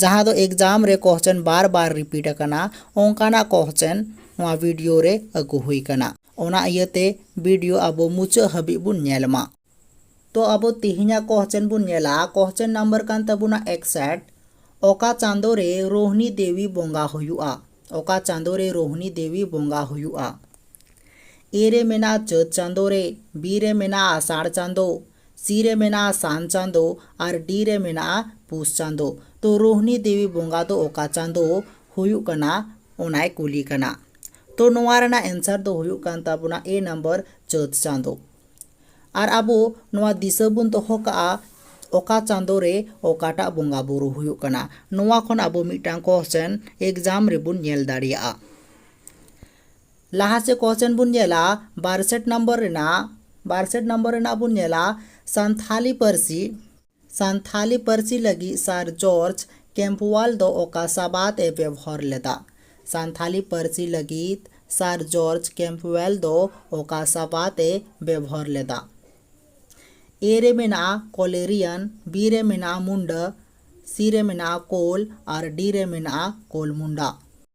ᱡᱟᱦᱟᱸ ᱫᱚ ᱮᱠᱡᱟᱢ ᱨᱮ ᱠᱚᱦᱪᱮᱱ ᱵᱟᱨ ᱵᱟᱨ ᱨᱤᱯᱤᱴ ᱟᱠᱟᱱᱟ ᱚᱱᱠᱟᱱᱟᱜ ᱠᱚᱦᱪᱮᱱ ᱱᱚᱣᱟ ᱵᱤᱰᱤᱭᱳ ᱨᱮ ᱟᱹᱜᱩ ᱦᱩᱭ ᱟᱠᱟᱱᱟ ᱚᱱᱟ ᱤᱭᱟᱹ ᱛᱮ ᱵᱤᱰᱤᱭᱳ ᱟᱵᱚ ᱢᱩᱪᱟᱹᱫ ᱦᱟᱹᱵᱤᱡ ᱵᱚᱱ ᱧᱮᱞ ᱢᱟ ᱛᱚ ᱟᱵᱚ ᱛᱮᱦᱮᱧᱟᱜ ᱠᱚᱦᱪᱮᱱ ᱵᱚᱱ ᱧᱮᱞᱟ ᱠᱚᱦᱪᱮᱱ ᱱᱟᱢᱵᱟᱨ ᱠᱟᱱ ᱛᱟᱵᱚᱱᱟ ᱮᱠᱥᱮᱴ ᱚᱠᱟ ᱪᱟᱸᱫᱳ ᱨᱮ ᱨᱳᱦᱱᱤ ᱫᱮᱣᱤ ᱵᱚᱸᱜᱟ ᱦᱩᱭᱩᱜᱼᱟ ᱚᱠᱟ ᱪᱟᱸᱫᱳ ᱨᱮ ᱨᱳᱦᱱᱤ ᱫᱮᱣᱤ ᱵᱚᱸᱜᱟ ᱦᱩᱭᱩᱜᱼᱟ ᱮ ᱨᱮ ᱢᱮᱱᱟᱜᱼᱟ ᱪᱟᱹᱛ ᱪᱟᱸᱫᱳ ᱨᱮ ᱵᱤ ᱨᱮ ᱢᱮᱱᱟᱜᱼᱟ ᱟᱥᱟᱲ ᱪᱟᱸᱫᱳ ᱥᱤ ᱨᱮ ᱢᱮᱱᱟᱜᱼᱟ ᱥᱟᱱ ᱪᱟᱸᱫᱚ ᱟᱨ ᱰᱤ ᱨᱮ ᱢᱮᱱᱟᱜᱼᱟ ᱯᱩᱥ ᱪᱟᱸᱫᱚ᱾ ᱛᱚ ᱨᱳᱦᱱᱤ ᱫᱮᱣᱤ ᱵᱚᱸᱜᱟ ᱫᱚ ᱚᱠᱟ ᱪᱟᱸᱫᱚ ᱦᱩᱭᱩᱜ ᱠᱟᱱᱟ ᱚᱱᱟᱭ ᱠᱩᱞᱤ ᱠᱟᱱᱟ᱾ ᱛᱚ ᱱᱚᱣᱟ ᱨᱮᱱᱟᱜ ᱮᱱᱥᱟᱨ ᱫᱚ ᱦᱩᱭᱩᱜ ᱠᱟᱱ ᱛᱟᱵᱚᱱᱟ ᱮ ᱱᱟᱢᱵᱟᱨ ᱪᱟᱹᱛ ᱪᱟᱸᱫᱚ᱾ ᱟᱨ ᱟᱵᱚ ᱱᱚᱣᱟ ᱫᱤᱥᱟᱹ ᱵᱚᱱ ᱫᱚᱦᱚ ᱠᱟᱜᱼᱟ ᱚᱠᱟ ᱪᱟᱸᱫᱚ ᱨᱮ ᱚᱠᱟᱴᱟᱜ ᱵᱚᱸᱜᱟ ᱵᱳᱨᱳ ᱦᱩᱭᱩᱜ ᱠᱟᱱᱟ᱾ ᱱᱚᱣᱟ ᱠᱷᱚᱱ ᱟᱵᱚ ᱢᱤᱫᱴᱟᱝ ᱠᱚᱥᱪᱮᱱ ᱮᱠᱡᱟᱢ ᱨᱮᱵᱚᱱ ᱧᱮᱞ ᱫᱟᱲᱮᱭᱟᱜᱼᱟ᱾ ᱞᱟᱦᱟ ᱥᱮᱫ ᱠᱚᱥᱪᱮᱱ ᱵᱚᱱ ᱧᱮᱞᱟ ᱵᱟᱨ ᱥᱮᱴ ᱱᱚᱢᱵᱚᱨ ᱨᱮᱱᱟᱜ ᱵᱟᱨ ᱥᱮᱴ ᱱᱚᱢᱵᱚᱨ ᱨᱮᱱᱟᱜ ᱵᱚᱱ ᱧᱮᱞᱟ ᱥᱟᱱᱛᱷᱟᱞᱤ ᱯᱟᱹᱨᱥᱤ ᱥᱟᱱᱛᱷᱟᱞᱤ ᱯᱟᱹᱨᱥᱤ ᱞᱟᱹᱜᱤᱫ ᱥᱟᱨ ᱡᱚᱨᱡᱽ ᱠᱮᱢᱯᱣᱟᱞ ᱫᱚ ᱚᱠᱟ ᱥᱟᱵᱟᱫ ᱮ ᱵᱮᱵᱷᱟᱨ ᱞᱮᱫᱟ ᱥᱟᱱᱛᱷᱟᱞᱤ ᱯᱟᱹᱨᱥᱤ ᱞᱟᱹᱜᱤᱫ ᱥᱟᱨ ᱡᱚᱨᱡᱽ ᱠᱮᱢᱯᱣᱟᱞ ᱫᱚ ᱚᱠᱟ ᱥᱟᱵᱟᱫ ᱮ ᱵᱮᱵᱷᱟᱨ ᱞᱮᱫᱟ ᱮ ᱨᱮ ᱢᱮᱱᱟᱜᱼᱟ ᱠᱚᱞᱮᱨᱤᱭᱟᱱ ᱵᱤ ᱨᱮ ᱢᱮᱱᱟᱜᱼᱟ ᱢᱩᱱᱰᱟᱹ ᱥᱤ ᱨᱮ ᱢᱮᱱᱟᱜᱼᱟ ᱠᱳᱞ ᱟᱨ ᱰᱤ ᱨᱮ ᱢᱮᱱᱟᱜᱼᱟ ᱠᱳᱞ ᱢᱩᱱᱰᱟ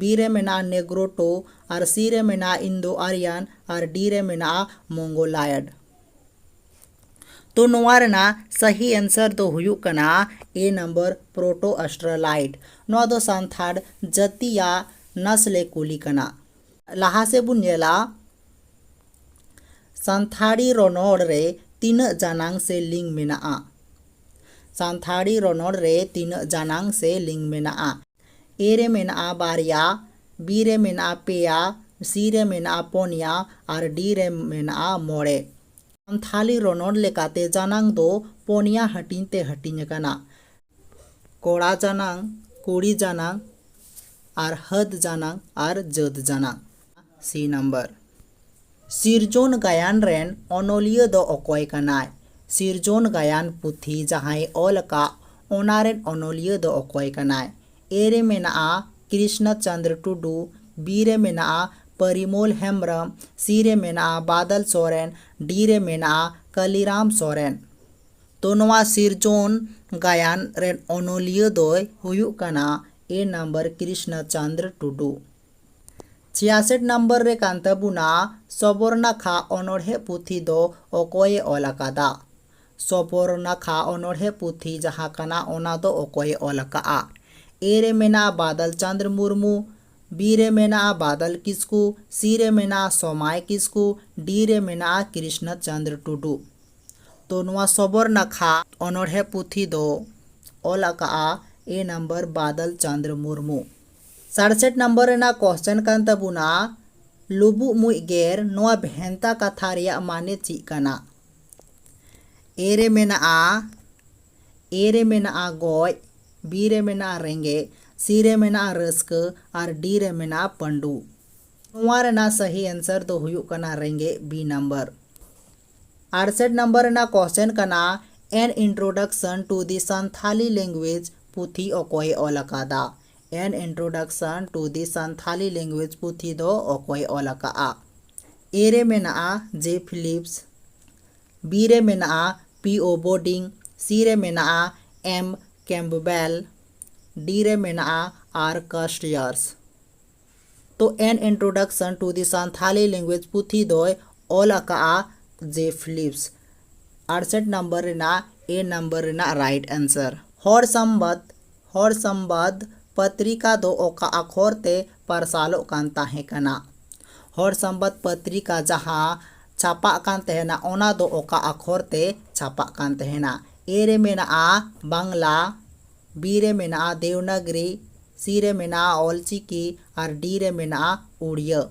ᱵᱤ ᱨᱮ ᱢᱮᱱᱟᱜᱼᱟ ᱱᱮᱜᱽᱨᱳᱴᱳ ᱟᱨ ᱥᱤ ᱨᱮ ᱢᱮᱱᱟᱜᱼᱟ ᱤᱱᱫᱳ ᱟᱨᱤᱭᱟᱱ ᱟᱨ ᱰᱤ ᱨᱮ ᱢᱮᱱᱟᱜᱼᱟ ᱢᱚᱝᱜᱳᱞᱟᱭᱚᱰ ᱛᱚ ᱱᱚᱣᱟ ᱨᱮᱱᱟᱜ ᱥᱟᱹᱦᱤ ᱮᱱᱥᱟᱨ ᱫᱚ ᱦᱩᱭᱩᱜ ᱠᱟᱱᱟ ᱮ ᱱᱟᱢᱵᱟᱨ ᱯᱨᱳᱴᱳ ᱟᱥᱴᱨᱟᱞᱟᱭᱤᱰ ᱱᱚᱣᱟ ᱫᱚ ᱥᱟᱱᱛᱷᱟᱲ ᱡᱟᱹᱛᱤᱭᱟᱜ ᱱᱟᱥᱞᱮ ᱠᱩᱞᱤ ᱠᱟᱱᱟ ᱞᱟᱦᱟ ᱥᱮᱫ ᱵᱚᱱ ᱧᱮᱞᱟ ᱥᱟᱱᱛᱷᱟᱲᱤ ᱨᱚᱱᱚᱲ ᱨᱮ ᱛᱤᱱᱟᱹᱜ ᱡᱟᱱᱟᱝ ᱥᱮ ᱞᱤᱝ ᱢᱮᱱᱟᱜᱼᱟ ᱥᱟᱱᱛᱷᱟᱲᱤ ᱨᱚᱱᱚᱲ ᱨᱮ ᱛᱤᱱᱟᱹᱜ ᱡᱟᱱᱟᱝ ᱥᱮ ᱞᱤᱝ ᱢᱮᱱᱟᱜᱼᱟ ᱮ ᱨᱮ ᱢᱮᱱᱟᱜᱼᱟ ᱵᱟᱨᱭᱟ, ᱵᱤ ᱨᱮ ᱢᱮᱱᱟᱜᱼᱟ ᱯᱮᱭᱟ, ᱥᱤ ᱨᱮ ᱢᱮᱱᱟᱜᱼᱟ ᱯᱚᱱᱭᱟ ᱟᱨ ᱰᱤ ᱨᱮ ᱢᱮᱱᱟᱜᱼᱟ ᱢᱚᱬᱮ᱾ ᱥᱟᱱᱛᱷᱟᱞᱤ ᱨᱚᱱᱚᱲ ᱞᱮᱠᱟᱛᱮ ᱡᱟᱱᱟᱝ ᱫᱚ ᱯᱚᱱᱭᱟ ᱦᱟᱹᱴᱤᱧ ᱛᱮ ᱦᱟᱹᱴᱤᱧ ᱟᱠᱟᱱᱟ, ᱠᱚᱲᱟ ᱡᱟᱱᱟᱝ, ᱠᱩᱲᱤ ᱡᱟᱱᱟᱝ ᱟᱨ ᱦᱟᱹᱫᱽ ᱡᱟᱱᱟᱝ ᱟᱨ ᱡᱟᱹᱛ ᱡᱟᱱᱟᱝ᱾ ᱥᱤ ᱱᱟᱢᱵᱟᱨ᱾ ᱥᱤᱨᱡᱚᱱ ᱜᱟᱭᱟᱱ ᱨᱮᱱ ᱚᱱᱚᱞᱤᱭᱟᱹ ᱫᱚ ᱚᱠᱚᱭ ᱠᱟᱱᱟᱭ? ᱥᱤᱨᱡᱚᱱ ᱜᱟᱭᱟᱱ ᱯᱩᱛᱷᱤ ᱡᱟᱦᱟᱸᱭ ᱚᱞ ᱟᱠᱟᱫ ᱚᱱᱟ ᱨᱮᱱ ᱚᱱᱚᱞᱤᱭᱟᱹ ᱫᱚ ᱚᱠᱚᱭ ᱠᱟᱱᱟᱭ? ᱮ ᱨᱮ ᱢᱮᱱᱟᱜᱼᱟ ᱠᱨᱤᱥᱱᱚ ᱪᱚᱱᱫᱽᱨᱚ ᱴᱩᱰᱩ, ᱵᱤ ᱨᱮ ᱢᱮᱱᱟᱜᱼᱟ ᱯᱚᱨᱤᱢᱚᱞ ᱦᱮᱢᱵᱽᱨᱚᱢ, ᱥᱤ ᱨᱮ ᱢᱮᱱᱟᱜᱼᱟ ᱵᱟᱫᱚᱞ ᱥᱚᱨᱮᱱ, ᱰᱤ ᱨᱮ ᱢᱮᱱᱟᱜᱼᱟ ᱠᱟᱞᱤᱨᱟᱢ ᱥᱚᱨᱮᱱ᱾ ᱛᱚ ᱱᱚᱣᱟ ᱥᱤᱨᱡᱚᱱ ᱜᱟᱭᱟᱱ ᱨᱮᱱ ᱚᱱᱚᱞᱤᱭᱟᱹ ᱫᱚᱭ ᱦᱩᱭᱩᱜ ᱠᱟᱱᱟ ᱮ ᱱᱟᱢᱵᱟᱨ ᱠᱨᱤᱥᱱᱚ ᱪᱚᱱᱫᱽᱨᱚ ᱴᱩᱰᱩ᱾ ᱪᱷᱤᱭᱟᱥᱮᱴ ᱱᱟᱢᱵᱟᱨ ᱨᱮ ᱠᱟᱱ ᱛᱟᱵᱚᱱᱟ ᱥᱚᱵᱚᱨᱱᱟᱠᱷᱟ ᱚᱱᱚᱬᱦᱮ ᱯᱩᱛᱷᱤ ᱫᱚ ᱚᱠᱚᱭ ᱮ ᱚᱞ ᱟᱠᱟᱫᱟ? ᱥᱚᱵᱚᱨᱱᱟᱠᱷᱟ ᱚᱱᱚᱬᱦᱮ ᱯᱩᱛᱷᱤ ᱡᱟᱦᱟᱸ ᱠᱟᱱᱟ ᱚᱱᱟ ᱫᱚ ᱚᱠᱚᱭ ᱮ ᱚᱞ ᱟᱠᱟᱫᱼᱟ? ᱮ ᱨᱮ ᱢᱮᱱᱟᱜᱼᱟ ᱵᱟᱫᱚᱞ ᱪᱟᱸᱫᱽᱨ ᱢᱩᱨᱢᱩ, ᱵᱤ ᱨᱮ ᱢᱮᱱᱟᱜᱼᱟ ᱵᱟᱫᱚᱞ ᱠᱤᱥᱠᱩ, ᱥᱤ ᱨᱮ ᱢᱮᱱᱟᱜᱼᱟ ᱥᱚᱢᱟᱭ ᱠᱤᱥᱠᱩ, ᱰᱤ ᱨᱮ ᱢᱮᱱᱟᱜᱼᱟ ᱠᱨᱤᱥᱱᱚ ᱪᱟᱸᱫᱽᱨ ᱴᱩᱰᱩ᱾ ᱛᱚ ᱱᱚᱣᱟ ᱥᱚᱵᱚᱨᱱᱟᱠᱷᱟ ᱚᱱᱚᱬᱦᱮ ᱯᱩᱛᱷᱤ ᱫᱚ ᱚᱞ ᱟᱠᱟᱫᱼᱟ ᱮ ᱱᱟᱢᱵᱟᱨ ᱵᱟᱫᱚᱞ ᱪᱟᱸᱫᱽᱨ ᱢᱩᱨᱢᱩ᱾ ᱥᱟᱲᱥᱮᱴ ᱱᱟᱢᱵᱟᱨ ᱨᱮᱱᱟᱜ ᱠᱚᱥᱪᱮᱱ ᱠᱟᱱ ᱛᱟᱵᱚᱱᱟ ᱞᱩᱵᱩᱜ ᱢᱩᱡ ᱜᱮᱨ ᱱᱚᱣᱟ ᱵᱷᱮᱱᱛᱟ ᱠᱟᱛᱷᱟ ᱨᱮᱭᱟᱜ ᱢᱟᱱᱮ ᱪᱮᱫ ᱠᱟᱱᱟ ᱮ ᱨᱮ ᱢᱮᱱᱟᱜᱼᱟ ᱮ ᱨᱮ ᱢᱮᱱᱟᱜᱼᱟ ᱜᱚᱡ ᱵᱤ ᱨᱮ ᱢᱮᱱᱟᱜᱼᱟ ᱨᱮᱸᱜᱮᱡ ᱥᱤ ᱨᱮ ᱢᱮᱱᱟᱜᱼᱟ ᱨᱟᱹᱥᱠᱟᱹ ᱟᱨ ᱰᱤ ᱨᱮ ᱢᱮᱱᱟᱜᱼᱟ ᱯᱟᱺᱰᱩ ᱱᱚᱣᱟ ᱨᱮᱱᱟᱜ ᱥᱟᱹᱦᱤ ᱮᱱᱥᱟᱨ ᱫᱚ ᱦᱩᱭᱩᱜ ᱠᱟᱱᱟ ᱨᱮᱸᱜᱮᱡ ᱵᱤ ᱱᱟᱢᱵᱟᱨ ᱟᱲᱥᱮᱴ ᱱᱟᱢᱵᱟᱨ ᱨᱮᱱᱟᱜ ᱠᱚᱥᱪᱮᱱ ᱠᱟᱱᱟ an introduction to the Santali language ᱯᱩᱛᱷᱤ ᱚᱠᱚᱭᱮ ᱚᱞ ᱟᱠᱟᱫᱟ an introduction to the Santali language ᱯᱩᱛᱷᱤ ᱫᱚ ᱚᱠᱚᱭᱮ ᱚᱞ ᱟᱠᱟᱫᱼᱟ? ᱮ ᱨᱮ ᱢᱮᱱᱟᱜᱼᱟ ᱡᱮ ᱯᱷᱤᱞᱤᱯᱥ, ᱵᱤ ᱨᱮ ᱢᱮᱱᱟᱜᱼᱟ ᱯᱤ ᱳ ᱵᱳᱨᱰᱤᱝ, ᱥᱤ ᱨᱮ ᱢᱮᱱᱟᱜᱼᱟ ᱮᱢ ᱠᱮᱢᱯᱵᱮᱞ, ᱰᱤ ᱨᱮ ᱢᱮᱱᱟᱜᱼᱟ ᱟᱨ ᱠᱟᱥᱴᱭᱟᱨᱥ᱾ ᱛᱚ an introduction to the Santali language ᱯᱩᱛᱷᱤ ᱫᱚᱭ ᱚᱞ ᱟᱠᱟᱫᱼᱟ ᱡᱮ ᱯᱷᱤᱞᱤᱯᱥ᱾ ᱟᱲᱥᱮᱴ ᱱᱟᱢᱵᱟᱨ ᱨᱮᱱᱟᱜ ᱮ ᱱᱟᱢᱵᱟᱨ ᱨᱮᱱᱟᱜ ᱨᱟᱭᱤᱴ ᱟᱱᱥᱟᱨ᱾ ᱦᱚᱲ ᱥᱟᱢᱵᱟᱫᱽ, ᱦᱚᱲ ᱥᱟᱢᱵᱟᱫᱽ ᱯᱟᱛᱨᱤᱠᱟ ᱫᱚ ᱚᱠᱟ ᱟᱠᱷᱚᱨ ᱛᱮ ᱯᱟᱨᱥᱟᱞᱚᱜ ᱠᱟᱱ ᱛᱟᱦᱮᱸ ᱠᱟᱱᱟ? ᱦᱚᱲ ᱥᱟᱢᱵᱟᱫᱽ ᱯᱟᱛᱨᱤᱠᱟ ᱡᱟᱦᱟᱸ ᱪᱷᱟᱯᱟᱜ ᱠᱟᱱ ᱛᱟᱦᱮᱸᱱᱟ ᱚᱱᱟ ᱫᱚ ᱚᱠᱟ ᱟᱠᱷᱚᱨ ᱛᱮ ᱪᱷᱟᱯᱟᱜ ᱠᱟᱱ ᱛᱟᱦᱮᱸᱱᱟ? ᱮ ᱨᱮ ᱢᱮᱱᱟᱜᱼᱟ ᱵᱟᱝᱞᱟ, ᱵᱤ ᱨᱮ ᱢᱮᱱᱟᱜᱼᱟ ᱫᱮᱣᱱᱟᱜᱽᱨᱤ, ᱥᱤ ᱨᱮ ᱢᱮᱱᱟᱜᱼᱟ ᱚᱞᱪᱤᱠᱤ ᱟᱨ ᱰᱤ ᱨᱮ ᱢᱮᱱᱟᱜᱼᱟ ᱩᱲᱤᱭᱟᱹ᱾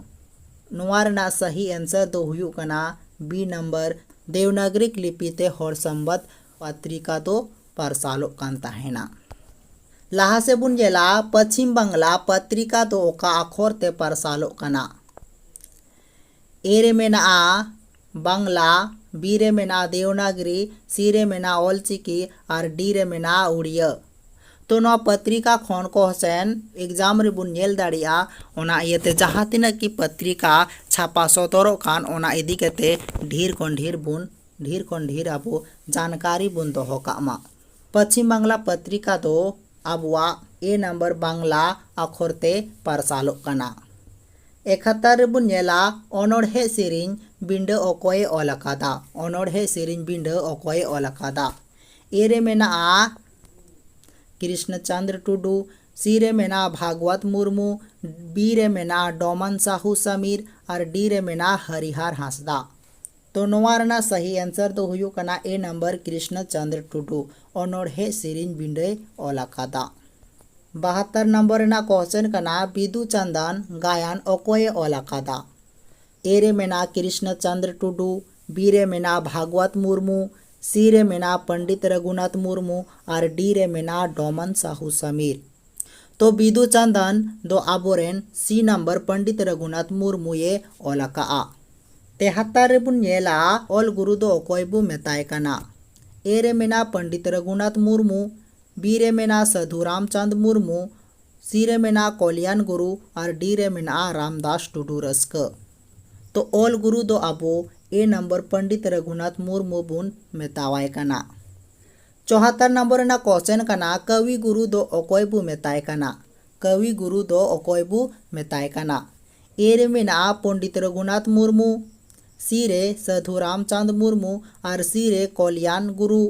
ᱱᱚᱣᱟ ᱨᱮᱱᱟᱜ ᱥᱟᱹᱦᱤ ᱮᱱᱥᱟᱨ ᱫᱚ ᱦᱩᱭᱩᱜ ᱠᱟᱱᱟ ᱵᱤ ᱱᱟᱢᱵᱟᱨ, ᱫᱮᱣᱱᱟᱜᱽᱨᱤᱠ ᱞᱤᱯᱤ ᱛᱮ ᱦᱚᱲ ᱥᱟᱢᱵᱟᱫᱽ ᱯᱟᱛᱨᱤᱠᱟ ᱫᱚ ᱯᱟᱨᱥᱟᱞᱚᱜ ᱠᱟᱱ ᱛᱟᱦᱮᱸᱱᱟ᱾ ᱞᱟᱦᱟ ᱥᱮᱫ ᱵᱚᱱ ᱧᱮᱞᱟ ᱯᱟᱪᱷᱤᱢ ᱵᱟᱝᱞᱟ ᱯᱟᱛᱨᱤᱠᱟ ᱫᱚ ᱚᱠᱟ ᱟᱠᱷᱚᱨ ᱛᱮ ᱯᱟᱨᱥᱟᱞᱚᱜ ᱠᱟᱱᱟ? ᱮ ᱨᱮ ᱢᱮᱱᱟᱜᱼᱟ ᱵᱟᱝᱞᱟ, ᱵᱤ ᱨᱮ ᱢᱮᱱᱟᱜᱼᱟ ᱫᱮᱣᱱᱟᱜᱽᱨᱤ, ᱥᱤ ᱨᱮ ᱢᱮᱱᱟᱜᱼᱟ ᱚᱞᱪᱤᱠᱤ ᱟᱨ ᱰᱤ ᱨᱮ ᱢᱮᱱᱟᱜᱼᱟ ᱩᱲᱤᱭᱟᱹ᱾ ᱛᱚ ᱱᱚᱣᱟ ᱯᱟᱛᱨᱤᱠᱟ ᱠᱷᱚᱱ ᱠᱚᱦᱥᱮᱱ ᱮᱠᱡᱟᱢ ᱨᱮᱵᱚᱱ ᱧᱮᱞ ᱫᱟᱲᱮᱭᱟᱜᱼᱟ᱾ ᱚᱱᱟ ᱤᱭᱟᱹᱛᱮ ᱡᱟᱦᱟᱸ ᱛᱤᱱᱟᱹᱜ ᱜᱮ ᱯᱟᱛᱨᱤᱠᱟ ᱪᱷᱟᱯᱟ ᱥᱚᱫᱚᱨᱚᱜ ᱠᱟᱱ ᱚᱱᱟ ᱤᱫᱤ ᱠᱟᱛᱮ ᱰᱷᱤᱨ ᱠᱷᱚᱱ ᱰᱷᱤᱨ ᱵᱚᱱ ᱰᱷᱤᱨ ᱠᱷᱚᱱ ᱰᱷᱤᱨ ᱟᱵᱚ ᱡᱟᱱᱠᱟᱨᱤ ᱵᱚᱱ ᱫᱚᱦᱚ ᱠᱟᱜ ᱢᱟ᱾ ᱯᱟᱪᱷᱤᱢ ᱵᱟᱝᱞᱟ ᱯᱟᱛᱨᱤᱠᱟ ᱫᱚ ᱟᱵᱚᱣᱟᱜ ᱮ ᱱᱟᱢᱵᱟᱨ ᱵᱟᱝᱞᱟ ᱟᱠᱷᱚᱨ ᱛᱮ ᱯᱟᱨᱥᱟᱞᱚᱜ ᱠᱟᱱᱟ᱾ ᱮᱠᱷᱟᱛᱟᱨ ᱨᱮᱵᱚᱱ ᱧᱮᱞᱟ ᱚᱱᱚᱬᱦᱮ ᱥᱮᱨᱮᱧ ᱵᱤᱸᱰᱟᱹ ᱚᱠᱚᱭ ᱮ ᱚᱞ ᱟᱠᱟᱫᱟ? ᱚᱱᱚᱬᱦᱮ ᱥᱮᱨᱮᱧ ᱵᱤᱸᱰᱟᱹ ᱚᱠᱚᱭ ᱮ ᱚᱞ ᱟᱠᱟᱫᱟ? ᱮ ᱨᱮ ᱢᱮᱱᱟᱜᱼᱟ ᱠᱨᱤᱥᱱᱚ ᱪᱚᱸᱫᱽᱨᱚ ᱴᱩᱰᱩ, ᱥᱤ ᱨᱮ ᱢᱮᱱᱟᱜᱼᱟ ᱵᱷᱟᱜᱽᱣᱟᱛ ᱢᱩᱨᱢᱩ, ᱵᱤ ᱨᱮ ᱢᱮᱱᱟᱜᱼᱟ ᱰᱚᱢᱟᱱ ᱥᱟᱦᱩ ᱥᱟᱢᱤᱨ ᱟᱨ ᱰᱤ ᱨᱮ ᱢᱮᱱᱟᱜᱼᱟ ᱦᱚᱨᱤᱦᱟᱨ ᱦᱟᱸᱥᱫᱟᱜ᱾ ᱛᱚ ᱱᱚᱣᱟ ᱨᱮᱱᱟᱜ ᱥᱟᱹᱦᱤ ᱮᱱᱥᱟᱨ ᱫᱚ ᱦᱩᱭᱩᱜ ᱠᱟᱱᱟ ᱮ ᱱᱟᱢᱵᱟᱨ ᱠᱨᱤᱥᱱᱚ ᱪᱚᱸᱫᱽᱨᱚ ᱴᱩᱰᱩ ᱚᱱᱚᱬᱦᱮᱸ ᱥᱮᱨᱮᱧ ᱵᱤᱸᱰᱟᱹᱭ ᱚᱞ ᱟᱠᱟᱫᱟ᱾ ᱵᱟᱦᱟᱛᱛᱚᱨ ᱱᱟᱢᱵᱚᱨ ᱨᱮᱱᱟᱜ ᱠᱚᱦᱥᱮᱱ ᱠᱟᱱᱟ ᱵᱤᱫᱩ ᱪᱟᱸᱫᱟᱱ ᱜᱟᱭᱟᱱ ᱚᱠᱚᱭ ᱮ ᱚᱞ ᱟᱠᱟᱫᱟ? ᱮ ᱨᱮ ᱢᱮᱱᱟᱜᱼᱟ ᱠᱨᱤᱥᱱᱚ ᱪᱚᱸᱫᱽᱨᱚ ᱴᱩᱰᱩ, ᱵᱤ ᱨᱮ ᱢᱮᱱᱟᱜᱼᱟ ᱵᱷᱟᱜᱽᱣᱟᱛ ᱢᱩᱨᱢᱩ, ᱥᱤ ᱨᱮ ᱢᱮᱱᱟᱜᱼᱟ ᱯᱚᱸᱰᱤᱛ ᱨᱟᱹᱜᱷᱩᱱᱟᱛᱷ ᱢᱩᱨᱢᱩ ᱟᱨ ᱰᱤ ᱨᱮ ᱢᱮᱱᱟᱜᱼᱟ ᱰᱚᱢᱚᱱ ᱥᱟᱦᱩ ᱥᱟᱢᱤᱨ᱾ ᱛᱚ ᱵᱤᱫᱩ ᱪᱟᱸᱫᱟᱱ ᱫᱚ ᱟᱵᱚ ᱨᱮᱱ ᱥᱤ ᱱᱟᱢᱵᱟᱨ ᱯᱚᱱᱰᱤᱛ ᱨᱚᱜᱷᱩᱱᱟᱛᱷ ᱢᱩᱨᱢᱩ ᱭᱮ ᱚᱞ ᱟᱠᱟᱫᱼᱟ᱾ ᱛᱮᱦᱟᱛᱟᱨ ᱨᱮ ᱵᱚᱱ ᱧᱮᱞᱟ ᱚᱞ ᱜᱩᱨᱩ ᱫᱚ ᱚᱠᱚᱭ ᱵᱚ ᱢᱮᱛᱟᱭ ᱠᱟᱱᱟ᱾ ᱮ ᱨᱮ ᱢᱮᱱᱟᱜᱼᱟ ᱯᱚᱱᱰᱤᱛ ᱨᱚᱜᱷᱩᱱᱟᱛᱷ ᱢᱩᱨᱢᱩ, ᱵᱤ ᱨᱮ ᱢᱮᱱᱟᱜᱼᱟ ᱥᱟᱹᱫᱷᱩ ᱨᱟᱢᱪᱟᱸᱫᱽ ᱢᱩᱨᱢᱩ, ᱥᱤ ᱨᱮ ᱢᱮᱱᱟᱜᱼᱟ ᱠᱚᱞᱭᱟᱱ ᱜᱩᱨᱩ ᱟᱨ ᱰᱤ ᱨᱮ ᱢᱮᱱᱟᱜᱼᱟ ᱨᱟᱢᱫᱟᱥ ᱴᱩᱰᱩ ᱨᱟᱹᱥᱠᱟᱹ᱾ ᱛᱚ ᱚᱞ ᱜᱩᱨᱩ ᱫᱚ ᱟᱵᱚ ᱮ ᱱᱟᱢᱵᱟᱨ ᱯᱚᱱᱰᱤᱛ ᱨᱚᱜᱷᱩᱱᱟᱛᱷ ᱢᱩᱨᱢᱩ ᱵᱚᱱ ᱢᱮᱛᱟᱣᱟᱭ ᱠᱟᱱᱟ᱾ ᱪᱚᱦᱟᱛᱛᱚᱨ ᱱᱚᱢᱵᱚᱨ ᱨᱮᱱᱟᱜ ᱠᱚᱥᱪᱮᱱ ᱠᱟᱱᱟ ᱠᱟᱣᱤ ᱜᱩᱨᱩ ᱫᱚ ᱚᱠᱚᱭ ᱵᱚ ᱢᱮᱛᱟᱭ ᱠᱟᱱᱟ? ᱠᱟᱣᱤ ᱜᱩᱨᱩ ᱫᱚ ᱚᱠᱚᱭ ᱵᱚ ᱢᱮᱛᱟᱭ ᱠᱟᱱᱟ? ᱮ ᱨᱮ ᱢᱮᱱᱟᱜᱼᱟ ᱯᱚᱱᱰᱤᱛ ᱨᱚᱜᱷᱩᱱᱟᱛᱷ ᱢᱩᱨᱢᱩ, ᱥᱤ ᱨᱮ ᱥᱟᱹᱫᱷᱩ ᱨᱟᱢᱪᱟᱸᱫᱽ ᱢᱩᱨᱢᱩ ᱟᱨ ᱥᱤ ᱨᱮ ᱠᱚᱞᱭᱟᱱ ᱜᱩᱨᱩ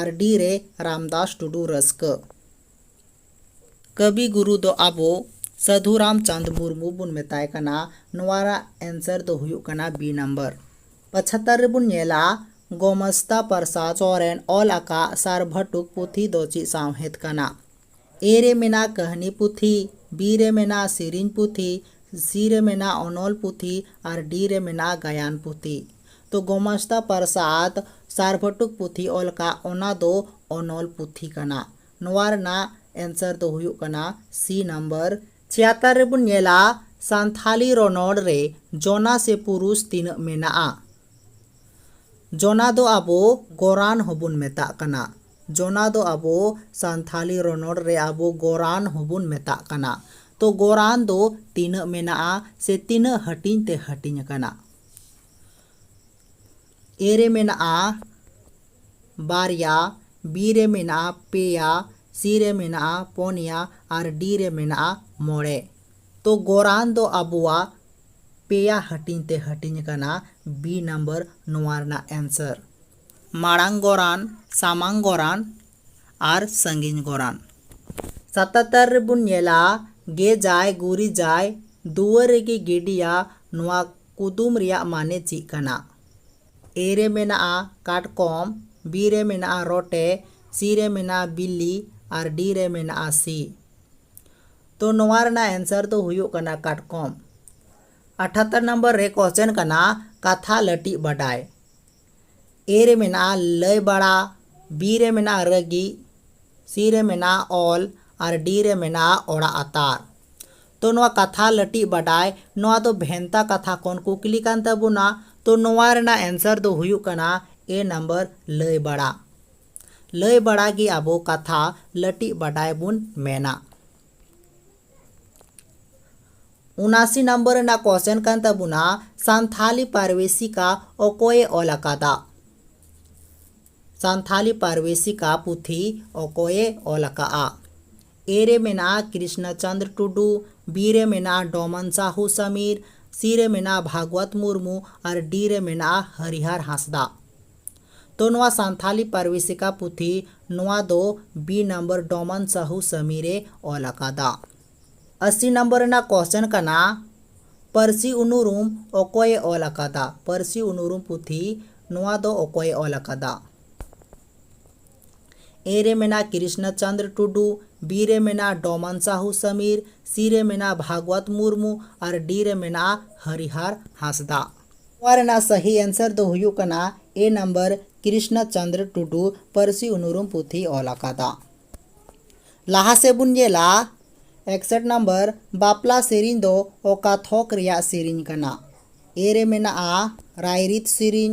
ᱟᱨ ᱰᱤ ᱨᱮ ᱨᱟᱢᱫᱟᱥ ᱴᱩᱰᱩ ᱨᱟᱹᱥᱠᱟᱹ᱾ ᱠᱟᱹᱵᱤ ᱜᱩᱨᱩ ᱫᱚ ᱟᱵᱚ ᱥᱟᱹᱫᱷᱩ ᱨᱟᱢᱪᱟᱸᱫᱽ ᱢᱩᱨᱢᱩ ᱵᱚᱱ ᱢᱮᱛᱟᱭ ᱠᱟᱱᱟ᱾ ᱱᱚᱣᱟ ᱨᱮᱭᱟᱜ ᱮᱱᱥᱟᱨ ᱫᱚ ᱦᱩᱭᱩᱜ ᱠᱟᱱᱟ ᱵᱤ ᱱᱟᱢᱵᱟᱨ᱾ ᱯᱚᱪᱷᱟᱛᱛᱚᱨ ᱨᱮ ᱵᱚᱱ ᱧᱮᱞᱟ ᱜᱳᱢᱟᱥᱛᱟ ᱯᱨᱚᱥᱟᱫᱽ ᱥᱚᱨᱮᱱ ᱚᱞ ᱟᱠᱟᱫ ᱥᱟᱨᱵᱷᱟᱴᱩᱠ ᱯᱩᱛᱷᱤ ᱫᱚ ᱪᱮᱫ ᱥᱟᱶᱦᱮᱫ ᱠᱟᱱᱟ? ᱮ ᱨᱮ ᱢᱮᱱᱟᱜᱼᱟ ᱠᱟᱹᱦᱱᱤ ᱯᱩᱛᱷᱤ, ᱵᱤ ᱨᱮ ᱢᱮᱱᱟᱜᱼᱟ ᱥᱮᱨᱮᱧ ᱯᱩᱛᱷᱤ, ᱥᱤ ᱨᱮ ᱢᱮᱱᱟᱜᱼᱟ ᱚᱱᱚᱞ ᱯᱩᱛᱷᱤ ᱟᱨ ᱰᱤ ᱨᱮ ᱢᱮᱱᱟᱜᱼᱟ ᱜᱟᱭᱟᱱ ᱯᱩᱛᱷᱤ᱾ ᱛᱚ ᱜᱳᱢᱟᱥᱛᱟ ᱯᱨᱚᱥᱟᱫᱽ ᱥᱟᱨᱵᱷᱟᱴᱩᱠ ᱯᱩᱛᱷᱤ ᱚᱞ ᱟᱠᱟᱫ ᱚᱱᱟ ᱫᱚ ᱚᱱᱚᱞ ᱯᱩᱛᱷᱤ ᱠᱟᱱᱟ᱾ ᱱᱚᱣᱟ ᱨᱮᱱᱟᱜ ᱮᱱᱥᱟᱨ ᱫᱚ ᱦᱩᱭᱩᱜ ᱠᱟᱱᱟ ᱥᱤ ᱱᱟᱢᱵᱟᱨ᱾ ᱪᱤᱭᱟᱛᱟᱨ ᱨᱮᱵᱚᱱ ᱧᱮᱞᱟ ᱥᱟᱱᱛᱷᱟᱞᱤ ᱨᱚᱱᱚᱲ ᱨᱮ ᱡᱚᱱᱟ ᱥᱮ ᱯᱩᱨᱩᱥ ᱛᱤᱱᱟᱹᱜ ᱢᱮᱱᱟᱜᱼᱟ᱾ ᱡᱚᱱᱟ ᱫᱚ ᱟᱵᱚ ᱜᱚᱨᱟᱱ ᱦᱚᱸᱵᱚᱱ ᱢᱮᱛᱟᱜ ᱠᱟᱱᱟ᱾ ᱡᱚᱱᱟ ᱫᱚ ᱟᱵᱚ ᱥᱟᱱᱛᱷᱟᱞᱤ ᱨᱚᱱᱚᱲ ᱨᱮ ᱟᱵᱚ ᱜᱚᱨᱟᱱ ᱦᱚᱸᱵᱚᱱ ᱢᱮᱛᱟᱜ ᱠᱟᱱᱟ᱾ ᱛᱚ ᱜᱚᱨᱟᱱ ᱫᱚ ᱛᱤᱱᱟᱹᱜ ᱢᱮᱱᱟᱜᱼᱟ ᱥᱮ ᱛᱤᱱᱟᱹᱜ ᱦᱟᱹᱴᱤᱧ ᱛᱮ ᱦᱟᱹᱴᱤᱧ ᱟᱠᱟᱱᱟ᱾ ᱮ ᱨᱮ ᱢᱮᱱᱟᱜᱼᱟ ᱵᱟᱨᱭᱟ ᱵᱤ ᱨᱮ ᱢᱮᱱᱟᱜᱼᱟ ᱯᱮᱭᱟ ᱥᱤ ᱨᱮ ᱢᱮᱱᱟᱜᱼᱟ ᱯᱚᱱᱭᱟ ᱟᱨ ᱰᱤ ᱨᱮ ᱢᱮᱱᱟᱜᱼᱟ ᱢᱚᱬᱮ ᱛᱚ ᱜᱚᱨᱟᱱ ᱫᱚ ᱟᱵᱚᱣᱟᱜ ᱯᱮᱭᱟ ᱦᱟᱹᱴᱤᱧ ᱛᱮ ᱦᱟᱹᱴᱤᱧ ᱟᱠᱟᱱᱟ ᱵᱤ ᱱᱟᱢᱵᱟᱨ ᱱᱚᱣᱟ ᱨᱮᱱᱟᱜ ᱮᱱᱥᱟᱨ ᱢᱟᱲᱟᱝ ᱜᱚᱨᱟᱱ ᱥᱟᱢᱟᱝ ᱜᱚᱨᱟᱱ ᱟᱨ ᱥᱟᱺᱜᱤᱧ ᱜᱚᱨᱟᱱ ᱥᱟᱛᱟᱛᱟᱨ ᱨᱮᱵᱚᱱ ᱧᱮᱞᱟ ᱜᱮᱡᱟᱭ ᱜᱩᱨᱤᱡᱟᱭ ᱫᱩᱣᱟᱹᱨ ᱨᱮᱜᱮ ᱜᱤᱰᱤᱭᱟ ᱱᱚᱣᱟ ᱠᱩᱫᱩᱢ ᱨᱮᱭᱟᱜ ᱢᱟᱱᱮ ᱪᱤᱜ ᱠᱟᱱᱟ? ᱮ ᱨᱮ ᱢᱮᱱᱟᱜᱼᱟ ᱠᱟᱴᱠᱚᱢ, ᱵᱤ ᱨᱮ ᱢᱮᱱᱟᱜᱼᱟ ᱨᱚᱴᱮ, ᱥᱤ ᱨᱮ ᱢᱮᱱᱟᱜᱼᱟ ᱵᱤᱞᱞᱤ ᱟᱨ ᱰᱤ ᱨᱮ ᱢᱮᱱᱟᱜᱼᱟ ᱥᱤ᱾ ᱛᱚ ᱱᱚᱣᱟ ᱨᱮᱱᱟᱜ ᱮᱱᱥᱟᱨ ᱫᱚ ᱦᱩᱭᱩᱜ ᱠᱟᱱᱟ ᱠᱟᱴᱠᱚᱢ᱾ ᱟᱴᱷᱟᱛᱛᱚᱨ ᱱᱚᱢᱵᱚᱨ ᱨᱮ ᱠᱚᱥᱪᱮᱱ ᱠᱟᱱᱟ ᱠᱟᱛᱷᱟ ᱞᱟᱹᱴᱤᱡ ᱵᱟᱰᱟᱭ᱾ ᱮ ᱨᱮ ᱢᱮᱱᱟᱜᱼᱟ ᱞᱟᱹᱭ ᱵᱟᱲᱟ, ᱵᱤ ᱨᱮ ᱢᱮᱱᱟᱜᱼᱟ ᱨᱟᱹᱜᱤ, ᱥᱤ ᱨᱮ ᱢᱮᱱᱟᱜᱼᱟ ᱚᱞ ᱟᱨ ᱰᱤ ᱨᱮ ᱢᱮᱱᱟᱜᱼᱟ ᱚᱲᱟᱜ ᱟᱛᱟᱨ᱾ ᱛᱚ ᱱᱚᱣᱟ ᱠᱟᱛᱷᱟ ᱞᱟᱹᱴᱤᱡ ᱵᱟᱰᱟᱭ, ᱱᱚᱣᱟ ᱫᱚ ᱵᱷᱮᱱᱛᱟ ᱠᱟᱛᱷᱟ ᱠᱷᱚᱱ ᱠᱩᱠᱞᱤ ᱠᱟᱱ ᱛᱟᱵᱚᱱᱟ᱾ ᱛᱚ ᱱᱚᱣᱟ ᱨᱮᱱᱟᱜ ᱮᱱᱥᱟᱨ ᱫᱚ ᱦᱩᱭᱩᱜ ᱠᱟᱱᱟ ᱮ ᱱᱟᱢᱵᱟᱨ ᱞᱟᱹᱭ ᱵᱟᱲᱟ᱾ ᱞᱟᱹᱭ ᱵᱟᱲᱟ ᱜᱮ ᱟᱵᱚ ᱠᱟᱛᱷᱟ ᱞᱟᱹᱴᱤᱡ ᱵᱟᱰᱟᱭ ᱵᱚᱱ ᱢᱮᱱᱟ᱾ ᱩᱱᱟᱥᱤ ᱱᱟᱢᱵᱟᱨ ᱨᱮᱱᱟᱜ ᱠᱚᱥᱪᱮᱱ ᱠᱟᱱ ᱛᱟᱵᱚᱱᱟ ᱥᱟᱱᱛᱷᱟᱞᱤ ᱯᱟᱨᱵᱮᱥᱤᱠᱟ ᱚᱠᱚᱭᱮ ᱚᱞ ᱟᱠᱟᱫᱟ ᱥᱟᱱᱛᱷᱟᱞᱤ ᱯᱟᱨᱵᱮᱥᱤᱠᱟ ᱯᱩᱛᱷᱤ ᱚᱠᱚᱭᱮ ᱚᱞ ᱟᱠᱟᱫᱼᱟ ᱮ ᱨᱮ ᱢᱮᱱᱟᱜᱼᱟ ᱠᱨᱤᱥᱱᱟ ᱪᱚᱱᱫᱨ ᱴᱩᱰᱩ ᱵᱤ ᱨᱮ ᱢᱮᱱᱟᱜᱼᱟ ᱰᱚᱢᱚᱱ ᱥᱟᱦᱩ ᱥᱟᱢᱤᱨ ᱥᱤ ᱨᱮ ᱢᱮᱱᱟᱜᱼᱟ ᱵᱷᱟᱜᱽᱣᱟᱛ ᱢᱩᱨᱢᱩ ᱟᱨ ᱰᱤ ᱨᱮ ᱢᱮᱱᱟᱜᱼᱟ ᱦᱟᱨᱤᱦᱟᱨ ᱦᱟᱸᱥᱫᱟ ᱛᱚ ᱱᱚᱣᱟ ᱥᱟᱱᱛᱷᱟᱞᱤ ᱯᱟᱨᱣᱤᱥᱤᱠᱟ ᱯᱩᱛᱷᱤ ᱱᱚᱣᱟ ᱫᱚ ᱵᱤ ᱱᱟᱢᱵᱟᱨ ᱰᱚᱢᱟᱱ ᱥᱟᱦᱩ ᱥᱟᱢᱤᱨ ᱮ ᱚᱞ ᱟᱠᱟᱫᱟ᱾ ᱟᱥᱤ ᱱᱟᱢᱵᱟᱨ ᱨᱮᱱᱟᱜ ᱠᱚᱥᱪᱮᱱ ᱠᱟᱱᱟ ᱯᱟᱹᱨᱥᱤ ᱩᱱᱩᱨᱩᱢ ᱚᱠᱚᱭ ᱮ ᱚᱞ ᱟᱠᱟᱫᱟ? ᱯᱟᱹᱨᱥᱤ ᱩᱱᱩᱨᱩᱢ ᱯᱩᱛᱷᱤ ᱱᱚᱣᱟ ᱫᱚ ᱚᱠᱚᱭ ᱮ ᱚᱞ ᱟᱠᱟᱫᱟ? ᱮ ᱨᱮ ᱢᱮᱱᱟᱜᱼᱟ ᱠᱨᱤᱥᱱᱚ ᱪᱚᱱᱫᱽᱨᱚ ᱴᱩᱰᱩ, ᱵᱤ ᱨᱮ ᱢᱮᱱᱟᱜᱼᱟ ᱰᱚᱢᱟᱱ ᱥᱟᱦᱩ ᱥᱟᱢᱤᱨ, ᱥᱤ ᱨᱮ ᱢᱮᱱᱟᱜᱼᱟ ᱵᱷᱟᱜᱽᱣᱟᱛ ᱢᱩᱨᱢᱩ ᱟᱨ ᱰᱤ ᱨᱮ ᱢᱮᱱᱟᱜᱼᱟ ᱦᱚᱨᱤᱦᱟᱨ ᱦᱟᱸᱥᱫᱟᱜ᱾ ᱱᱚᱣᱟ ᱨᱮᱱᱟᱜ ᱥᱟᱹᱦᱤ ᱮᱱᱥᱟᱨ ᱫᱚ ᱦᱩᱭᱩᱜ ᱠᱟᱱᱟ ᱮ ᱱᱟᱢᱵᱟᱨ ᱠᱨᱤᱥᱱᱟ ᱪᱚᱱᱫᱽᱨᱚ ᱴᱩᱰᱩ ᱯᱟᱹᱨᱥᱤ ᱩᱱᱩᱨᱩᱢ ᱯᱩᱛᱷᱤᱭ ᱚᱞ ᱟᱠᱟᱫᱟ᱾ ᱞᱟᱦᱟ ᱥᱮᱫ ᱵᱚᱱ ᱧᱮᱞᱟ ᱮᱠᱥᱮᱴ ᱱᱟᱢᱵᱟᱨ ᱵᱟᱯᱞᱟ ᱥᱮᱨᱮᱧ ᱫᱚ ᱚᱠᱟ ᱛᱷᱚᱠ ᱨᱮᱭᱟᱜ ᱥᱮᱨᱮᱧ ᱠᱟᱱᱟ? ᱮ ᱨᱮ ᱢᱮᱱᱟᱜᱼᱟ ᱨᱟᱭᱨᱤᱛ ᱥᱮᱨᱮᱧ,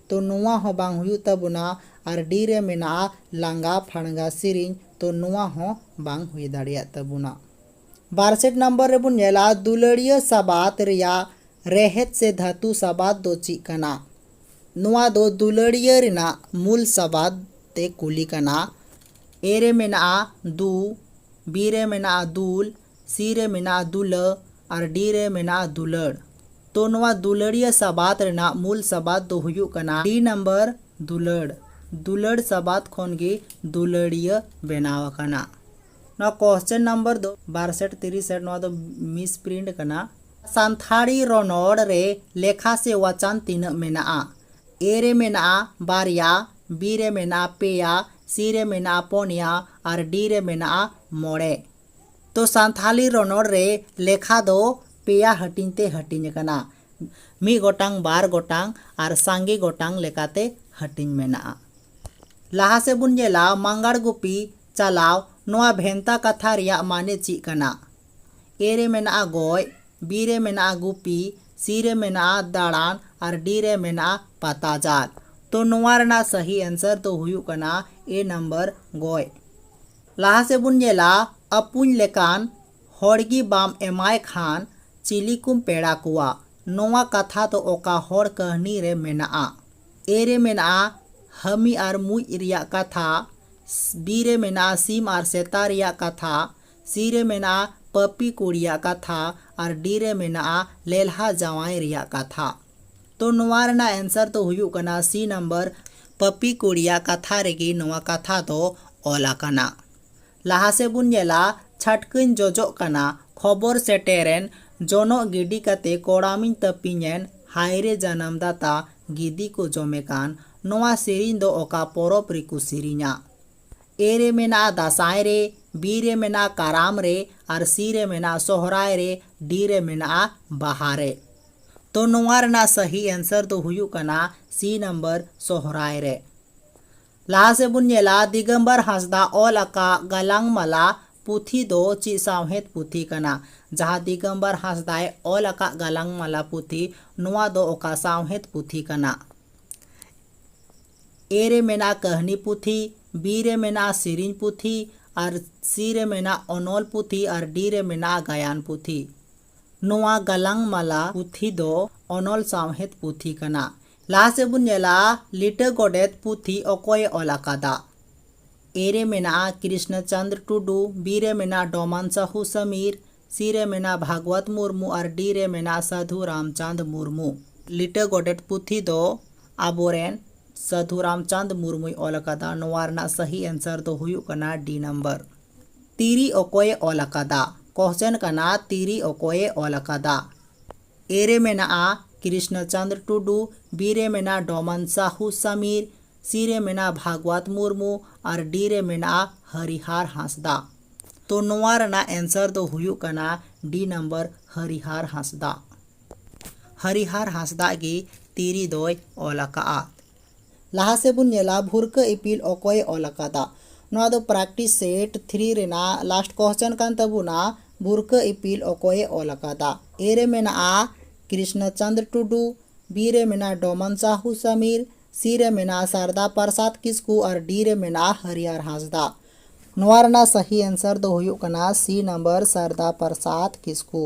ᱛᱚ ᱱᱚᱶᱟ ᱦᱚᱸ ᱵᱟᱝ ᱦᱩᱭᱩᱜ ᱛᱟᱵᱚᱱᱟ ᱟᱨ ᱰᱤ ᱨᱮ ᱢᱮᱱᱟᱜᱼᱟ ᱞᱟᱸᱜᱟ ᱯᱷᱟᱲᱜᱟ ᱥᱤᱨᱤᱧ ᱛᱚ ᱱᱚᱶᱟ ᱦᱚᱸ ᱵᱟᱝ ᱦᱩᱭ ᱫᱟᱲᱮᱭᱟᱜ ᱛᱟᱵᱚᱱᱟ᱾ ᱵᱟᱨ ᱥᱮᱴ ᱱᱟᱢᱵᱟᱨ ᱨᱮᱵᱚᱱ ᱧᱮᱞᱟ ᱫᱩᱞᱟᱹᱲᱤᱭᱟᱹ ᱥᱟᱵᱟᱫᱽ ᱨᱮᱭᱟᱜ ᱨᱮᱦᱮᱫ ᱥᱮ ᱫᱷᱟᱹᱛᱩ ᱥᱟᱵᱟᱫᱽ ᱫᱚ ᱪᱮᱫ ᱠᱟᱱᱟ? ᱱᱚᱶᱟ ᱫᱚ ᱫᱩᱞᱟᱹᱲᱤᱭᱟᱹ ᱨᱮᱱᱟᱜ ᱢᱩᱞ ᱥᱟᱵᱟᱫᱽ ᱛᱮ ᱠᱩᱞᱤ ᱠᱟᱱᱟ᱾ ᱮ ᱨᱮ ᱢᱮᱱᱟᱜᱼᱟ ᱫᱩ, ᱵᱤ ᱨᱮ ᱢᱮᱱᱟᱜᱼᱟ ᱫᱩᱞ, ᱥᱤ ᱨᱮ ᱢᱮᱱᱟᱜᱼᱟ ᱫᱩᱞᱟᱹ ᱟᱨ ᱰᱤ ᱨᱮ ᱢᱮᱱᱟᱜᱼᱟ ᱫᱩᱞᱟᱹᱲ᱾ ᱛᱚ ᱱᱚᱣᱟ ᱫᱩᱞᱟᱹᱲᱤᱭᱟᱹ ᱥᱟᱵᱟᱫᱽ ᱨᱮᱱᱟᱜ ᱢᱩᱞ ᱥᱟᱵᱟᱫᱽ ᱫᱚ ᱦᱩᱭᱩᱜ ᱠᱟᱱᱟ ᱰᱤ ᱱᱟᱢᱵᱟᱨ ᱫᱩᱞᱟᱹᱲ᱾ ᱫᱩᱞᱟᱹᱲ ᱥᱟᱵᱟᱫᱽ ᱠᱷᱚᱱ ᱜᱮ ᱫᱩᱞᱟᱹᱲᱤᱭᱟᱹ ᱵᱮᱱᱟᱣ ᱟᱠᱟᱱᱟ᱾ ᱱᱚᱣᱟ ᱠᱚᱥᱪᱮᱱ ᱱᱟᱢᱵᱟᱨ ᱫᱚ ᱵᱟᱨ ᱥᱮᱴ ᱛᱤᱨᱤᱥ ᱥᱮᱴ ᱱᱚᱣᱟ ᱫᱚ ᱢᱤᱥ ᱯᱨᱤᱱᱴ ᱠᱟᱱᱟ᱾ ᱥᱟᱱᱛᱷᱟᱲᱤ ᱨᱚᱱᱚᱲ ᱨᱮ ᱞᱮᱠᱷᱟ ᱥᱮ ᱣᱟᱪᱟᱱ ᱛᱤᱱᱟᱹᱜ ᱢᱮᱱᱟᱜᱼᱟ? ᱮ ᱨᱮ ᱢᱮᱱᱟᱜᱼᱟ ᱵᱟᱨᱭᱟ, ᱵᱤ ᱨᱮ ᱢᱮᱱᱟᱜᱼᱟ ᱯᱮᱭᱟ, ᱥᱤ ᱨᱮ ᱢᱮᱱᱟᱜᱼᱟ ᱯᱚᱱᱭᱟ ᱟᱨ ᱰᱤ ᱨᱮ ᱢᱮᱱᱟᱜᱼᱟ ᱢᱚᱬᱮ᱾ ᱛᱚ ᱥᱟᱱᱛᱷᱟᱞᱤ ᱨᱚᱱᱚᱲ ᱨᱮ ᱞᱮᱠᱷᱟ ᱫᱚ ᱯᱮᱭᱟ ᱦᱟᱹᱴᱤᱧ ᱛᱮ ᱦᱟᱹᱴᱤᱧ ᱟᱠᱟᱱᱟ ᱢᱤᱫ ᱜᱚᱴᱟᱝ ᱵᱟᱨ ᱜᱚᱴᱟᱝ ᱟᱨ ᱥᱟᱸᱜᱮ ᱜᱚᱴᱟᱝ ᱞᱮᱠᱟᱛᱮ ᱦᱟᱹᱴᱤᱧ ᱢᱮᱱᱟᱜᱼᱟ ᱞᱟᱦᱟ ᱥᱮᱫ ᱵᱚᱱ ᱧᱮᱞᱟ ᱢᱟᱸᱜᱟᱲ ᱜᱩᱯᱤ ᱪᱟᱞᱟᱣ ᱱᱚᱣᱟ ᱵᱷᱮᱱᱛᱟ ᱠᱟᱛᱷᱟ ᱨᱮᱭᱟᱜ ᱢᱟᱱᱮ ᱪᱮᱫ ᱠᱟᱱᱟ ᱮ ᱨᱮ ᱢᱮᱱᱟᱜᱼᱟ ᱜᱚᱡ ᱵᱤ ᱨᱮ ᱢᱮᱱᱟᱜᱼᱟ ᱜᱩᱯᱤ ᱥᱤ ᱨᱮ ᱢᱮᱱᱟᱜᱼᱟ ᱫᱟᱬᱟᱱ ᱟᱨ ᱰᱤ ᱨᱮ ᱢᱮᱱᱟᱜᱼᱟ ᱯᱟᱛᱟ ᱡᱟᱞ ᱛᱚ ᱱᱚᱣᱟ ᱨᱮᱱᱟᱜ ᱥᱟᱹᱦᱤ ᱮᱱᱥᱟᱨ ᱫᱚ ᱦᱩᱭᱩᱜ ᱠᱟᱱᱟ ᱮ ᱱᱟᱢᱵᱟᱨ ᱜᱚᱡ ᱞᱟᱦᱟ ᱥᱮᱫ ᱵᱚᱱ ᱧᱮᱞᱟ ᱟᱹᱯᱩᱧ ᱞᱮᱠᱟᱱ ᱦᱚᱲ ᱜᱮ ᱵᱟᱢ ᱮᱢᱟᱭ ᱠᱷᱟᱱ ᱪᱤᱞᱤ ᱠᱚᱢ ᱯᱮᱲᱟ ᱠᱚᱣᱟ ᱱᱚᱶᱟ ᱠᱟᱛᱷᱟ ᱫᱚ ᱚᱠᱟ ᱦᱚᱲ ᱠᱟᱹᱦᱱᱤ ᱨᱮ ᱢᱮᱱᱟᱜᱼᱟ? ᱮ ᱨᱮ ᱢᱮᱱᱟᱜᱼᱟ ᱦᱟᱹᱢᱤ ᱟᱨ ᱢᱩᱡ ᱨᱮᱭᱟᱜ ᱠᱟᱛᱷᱟ, ᱵᱤ ᱨᱮ ᱢᱮᱱᱟᱜᱼᱟ ᱥᱤᱢ ᱟᱨ ᱥᱮᱛᱟ ᱨᱮᱭᱟᱜ ᱠᱟᱛᱷᱟ, ᱥᱤ ᱨᱮ ᱢᱮᱱᱟᱜᱼᱟ ᱯᱟᱹᱯᱤ ᱠᱩᱲᱤᱭᱟᱜ ᱠᱟᱛᱷᱟ ᱟᱨ ᱰᱤ ᱨᱮ ᱢᱮᱱᱟᱜᱼᱟ ᱞᱮᱞᱦᱟ ᱡᱟᱶᱟᱭ ᱨᱮᱭᱟᱜ ᱠᱟᱛᱷᱟ᱾ ᱛᱚ ᱱᱚᱣᱟ ᱨᱮᱱᱟᱜ ᱮᱱᱥᱟᱨ ᱫᱚ ᱦᱩᱭᱩᱜ ᱠᱟᱱᱟ ᱥᱤ ᱱᱟᱢᱵᱟᱨ ᱯᱟᱯᱤ ᱠᱩᱲᱤᱭᱟᱜ ᱠᱟᱛᱷᱟ ᱨᱮᱜᱮ ᱱᱚᱣᱟ ᱠᱟᱛᱷᱟ ᱫᱚ ᱚᱞ ᱟᱠᱟᱱᱟ᱾ ᱞᱟᱦᱟ ᱥᱮᱫ ᱵᱚᱱ ᱧᱮᱞᱟ ᱪᱷᱟᱴᱠᱟᱹᱧ ᱡᱚᱡᱚᱜ ᱠᱟᱱᱟ ᱠᱷᱚᱵᱚᱨ ᱥᱮᱴᱮᱨᱮᱱ ᱡᱚᱱᱚᱜ ᱜᱤᱰᱤ ᱠᱟᱛᱮ ᱠᱚᱲᱟᱢᱤᱧ ᱛᱟᱹᱯᱤᱧᱮᱱ ᱦᱟᱭᱨᱮ ᱡᱟᱱᱟᱢ ᱫᱟᱛᱟ ᱜᱤᱫᱤ ᱠᱚ ᱡᱚᱢᱮ ᱠᱟᱱ ᱱᱚᱣᱟ ᱥᱮᱨᱮᱧ ᱫᱚ ᱚᱠᱟ ᱯᱚᱨᱚᱵᱽ ᱨᱮᱠᱚ ᱥᱮᱨᱮᱧᱟ? ᱮ ᱨᱮ ᱢᱮᱱᱟᱜᱼᱟ ᱫᱟᱸᱥᱟᱭ ᱨᱮ, ᱵᱤ ᱨᱮ ᱢᱮᱱᱟᱜᱼᱟ ᱠᱟᱨᱟᱢ ᱨᱮ ᱟᱨ ᱥᱤ ᱨᱮ ᱢᱮᱱᱟᱜᱼᱟ ᱥᱚᱦᱨᱟᱭ ᱨᱮ, ᱰᱤ ᱨᱮ ᱢᱮᱱᱟᱜᱼᱟ ᱵᱟᱦᱟ ᱨᱮ᱾ ᱛᱚ ᱱᱚᱣᱟ ᱨᱮᱱᱟᱜ ᱥᱟᱹᱦᱤ ᱮᱱᱥᱟᱨ ᱫᱚ ᱦᱩᱭᱩᱜ ᱠᱟᱱᱟ ᱥᱤ ᱱᱟᱢᱵᱟᱨ ᱥᱚᱦᱨᱟᱭ ᱨᱮ᱾ ᱞᱟᱦᱟ ᱥᱮᱫ ᱵᱚᱱ ᱧᱮᱞᱟ ᱫᱤᱜᱚᱢᱵᱚᱨ ᱦᱟᱸᱥᱫᱟ ᱚᱞ ᱟᱠᱟᱫ ᱜᱟᱞᱟᱝ ᱢᱟᱞᱟ ᱯᱩᱛᱷᱤ ᱫᱚ ᱪᱮᱫ ᱥᱟᱶᱦᱮᱫ ᱯᱩᱛᱷᱤ ᱠᱟᱱᱟ? ᱡᱟᱦᱟᱸ ᱫᱤᱜᱚᱢᱵᱚᱨ ᱦᱟᱸᱥᱫᱟᱭ ᱚᱞ ᱟᱠᱟᱫ ᱜᱟᱞᱟᱝ ᱢᱟᱞᱟ ᱯᱩᱛᱷᱤ ᱱᱚᱣᱟ ᱫᱚ ᱚᱠᱟ ᱥᱟᱶᱦᱮᱫ ᱯᱩᱛᱷᱤ ᱠᱟᱱᱟ? ᱮ ᱨᱮ ᱢᱮᱱᱟᱜᱼᱟ ᱠᱟᱹᱦᱱᱤ ᱯᱩᱛᱷᱤ, ᱵᱤ ᱨᱮ ᱢᱮᱱᱟᱜᱼᱟ ᱥᱮᱨᱮᱧ ᱯᱩᱛᱷᱤ ᱟᱨ ᱥᱤ ᱨᱮ ᱢᱮᱱᱟᱜᱼᱟ ᱚᱱᱚᱞ ᱯᱩᱛᱷᱤ ᱟᱨ ᱰᱤ ᱨᱮ ᱢᱮᱱᱟᱜᱼᱟ ᱜᱟᱭᱟᱱ ᱯᱩᱛᱷᱤ᱾ ᱱᱚᱣᱟ ᱜᱟᱞᱟᱝ ᱢᱟᱞᱟ ᱯᱩᱛᱷᱤ ᱫᱚ ᱚᱱᱚᱞ ᱥᱟᱶᱦᱮᱫ ᱯᱩᱛᱷᱤ ᱠᱟᱱᱟ᱾ ᱞᱟᱦᱟ ᱥᱮᱫ ᱵᱚᱱ ᱧᱮᱞᱟ ᱞᱤᱴᱟᱹ ᱜᱚᱰᱮᱛ ᱯᱩᱛᱷᱤ ᱚᱠᱚᱭ ᱮ ᱚᱞ ᱟᱠᱟᱫᱟ? ᱮ ᱨᱮ ᱢᱮᱱᱟᱜᱼᱟ ᱠᱨᱤᱥᱱᱚ ᱪᱚᱱᱫᱽᱨᱚ ᱴᱩᱰᱩ, ᱵᱤ ᱨᱮ ᱢᱮᱱᱟᱜᱼᱟ ᱰᱚᱢᱟᱱ ᱥᱟᱦᱩ ᱥᱚᱢᱤᱨ, ᱥᱤ ᱨᱮ ᱢᱮᱱᱟᱜᱼᱟ ᱵᱷᱟᱜᱽᱣᱟᱛ ᱢᱩᱨᱢᱩ ᱟᱨ ᱰᱤ ᱨᱮ ᱢᱮᱱᱟᱜᱼᱟ ᱥᱟᱹᱫᱷᱩ ᱨᱟᱢᱪᱟᱸᱫᱽ ᱢᱩᱨᱢᱩ᱾ ᱞᱤᱴᱟᱹ ᱜᱚᱰᱮᱛ ᱯᱩᱛᱷᱤ ᱫᱚ ᱟᱵᱚ ᱨᱮᱱ ᱥᱟᱹᱫᱷᱩ ᱨᱟᱢᱪᱟᱸᱫᱽ ᱢᱩᱨᱢᱩᱭ ᱚᱞ ᱟᱠᱟᱫᱟ᱾ ᱱᱚᱣᱟ ᱨᱮᱱᱟᱜ ᱥᱟᱹᱦᱤ ᱮᱱᱥᱟᱨ ᱫᱚ ᱦᱩᱭᱩᱜ ᱠᱟᱱᱟ ᱰᱤ ᱱᱚᱢᱵᱚᱨ᱾ ᱛᱤᱨᱤ ᱚᱠᱚᱭᱮ ᱚᱞ ᱟᱠᱟᱫᱟ? ᱠᱚᱦᱪᱮᱱ ᱠᱟᱱᱟ ᱛᱤᱨᱤ ᱚᱠᱚᱭᱮ ᱚᱞ ᱟᱠᱟᱫᱟ? ᱮ ᱨᱮ ᱢᱮᱱᱟᱜᱼᱟ ᱠᱨᱤᱥᱱᱚ ᱪᱚᱸᱫᱽᱨᱚ ᱴᱩᱰᱩ, ᱵᱤ ᱨᱮ ᱢᱮᱱᱟᱜᱼᱟ ᱰᱚᱢᱚᱱ ᱥᱟᱦᱩ ᱥᱟᱢᱤᱨ, ᱥᱤ ᱨᱮ ᱢᱮᱱᱟᱜᱼᱟ ᱵᱷᱟᱜᱽᱣᱟᱛ ᱢᱩᱨᱢᱩ ᱟᱨ ᱰᱤ ᱨᱮ ᱢᱮᱱᱟᱜᱼᱟ ᱦᱚᱨᱤᱦᱟᱨ ᱦᱟᱸᱥᱫᱟ᱾ ᱛᱚ ᱱᱚᱶᱟ ᱨᱮᱱᱟᱜ ᱮᱱᱥᱟᱨ ᱫᱚ ᱦᱩᱭᱩᱜ ᱠᱟᱱᱟ ᱰᱤ ᱱᱚᱢᱵᱚᱨ ᱦᱚᱨᱤᱦᱟᱨ ᱦᱟᱸᱥᱫᱟ᱾ ᱦᱚᱨᱤᱦᱟᱨ ᱦᱟᱸᱥᱫᱟ ᱜᱮ ᱛᱤᱨᱤ ᱫᱚᱭ ᱚᱞ ᱟᱠᱟᱫᱼᱟ᱾ ᱞᱟᱦᱟ ᱥᱮᱫ ᱵᱚᱱ ᱧᱮᱞᱟ ᱵᱷᱩᱨᱠᱟᱹ ᱤᱯᱤᱞ ᱚᱠᱚᱭᱮ ᱚᱞ ᱟᱠᱟᱫᱟ? ᱱᱚᱣᱟ ᱫᱚ ᱯᱨᱮᱠᱴᱤᱥ ᱥᱮᱴ ᱛᱷᱨᱤ ᱨᱮᱱᱟᱜ ᱞᱟᱥᱴ ᱠᱚᱥᱪᱮᱱ ᱠᱟᱱ ᱛᱟᱵᱚᱱᱟ ᱵᱷᱩᱨᱠᱟᱹ ᱤᱯᱤᱞ ᱚᱠᱚᱭᱮ ᱚᱞ ᱟᱠᱟᱫᱟ? ᱮ ᱨᱮ ᱢᱮᱱᱟᱜᱼᱟ ᱠᱨᱤᱥᱱᱚ ᱪᱚᱸᱫᱽᱨᱚ ᱴᱩᱰᱩ, ᱵᱤ ᱨᱮ ᱢᱮᱱᱟᱜᱼᱟ ᱰᱚᱢᱚᱱ ᱥᱟᱦᱩ ᱥᱚᱢᱤᱨ, ᱥᱤ ᱨᱮ ᱢᱮᱱᱟᱜᱼᱟ ᱥᱟᱨᱫᱟ ᱯᱨᱚᱥᱟᱫᱽ ᱠᱤᱥᱠᱩ ᱟᱨ ᱰᱤ ᱨᱮ ᱢᱮᱱᱟᱜᱼᱟ ᱦᱟᱹᱨᱤᱭᱟᱨ ᱦᱟᱸᱥᱫᱟᱜ᱾ ᱱᱚᱣᱟ ᱨᱮᱱᱟᱜ ᱥᱟᱹᱦᱤ ᱮᱱᱥᱟᱨ ᱫᱚ ᱦᱩᱭᱩᱜ ᱠᱟᱱᱟ ᱥᱤ ᱱᱚᱢᱵᱚᱨ ᱥᱟᱨᱫᱟ ᱯᱨᱚᱥᱟᱫᱽ ᱠᱤᱥᱠᱩ᱾